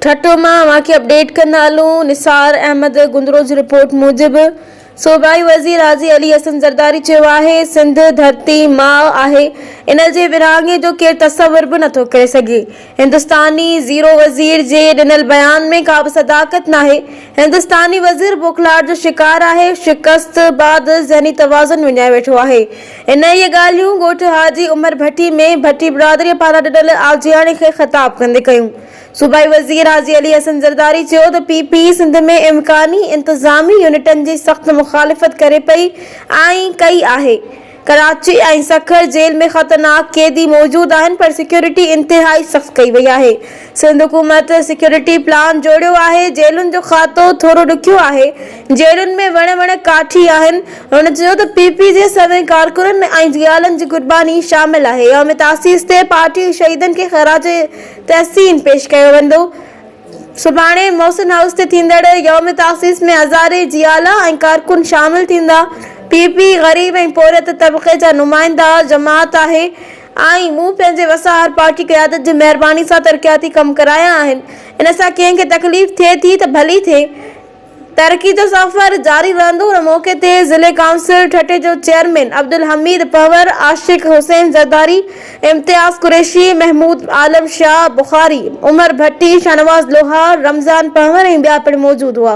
ٺٽو مان اوهان کي اپڊيٽ ڪندا هلون، نثار احمد گندڙو جي رپورٽ موجب صوبائي وزير حاجي علي حسن زرداري چيو آهي سنڌ ڌرتي ماء آهي ان جي ورهاڱي جو ڪير تصور به نٿو ڪري سگهي هندستاني زيرو وزير جي ڏنل بيان ۾ ڪا به صداقت ناهي هندستاني وزير بوکلاهٽ جو شڪار آهي شڪست بعد ذهني توازن وڃائي ويٺو آهي انهيء ڳالهيون ڳوٺ حاجي عمر ڀٽي ۾ ڀٽي برادري پاران ڏنل آجياڻي کي خطاب ڪندي ڪيون صوبائي وزير حاجي علي حسن زرداري چيو ته پي پي سنڌ ۾ امڪاني انتظامي يونٽن جي سخت مخالفت ڪري پئي ۽ ڪئي آهي، ڪراچي ۽ سکر جيل ۾ خطرناڪ قيدي موجود آهن پر سيڪيورٽي انتهائي سخت ڪئي وئي آهي، سنڌ حڪومت سيڪيورٽي پلان جوڙيو آهي، جيلن جو کاتو ٿورو ڏکيو آهي، جيلن ۾ وڻ وڻ ڪاٺي آهن، هن چيو ته پي پي جي سوين ڪارڪنن ۽ جيالن جي قرباني شامل آهي، يوم تاسيس تي پارٽي شهيدن کي خراج تحسين پيش ڪيو ويندو. سڀاڻي محسن هائوس تي ٿيندڙ يوم تاسيس ۾ هزارين جي آلا ۽ ڪارڪن شامل ٿيندا. پي پي غريب ۽ پورهيت طبقي جا نمائنده جماعت آهي ۽ مون پنهنجي وساهر پارٽي قيادت جي مهرباني سان ترقياتي ڪم ڪرايا آهن. ان سان ڪنهن کي تڪليف ٿئي ٿي ته ڀلي ٿئي. ترقي جو سفر جاري رهندو ان موقعي تي ضلعي ڪائونسل ٺٽي جو چيئرمين عبدالحميد پنهور، عاشق حسين زرداري، امتياز قريشي، محمود عالم شاهه بخاري، عمر ڀٽي، شاهنواز لوهار، رمضان پنهور ۽ ٻيا پڻ موجود هئا.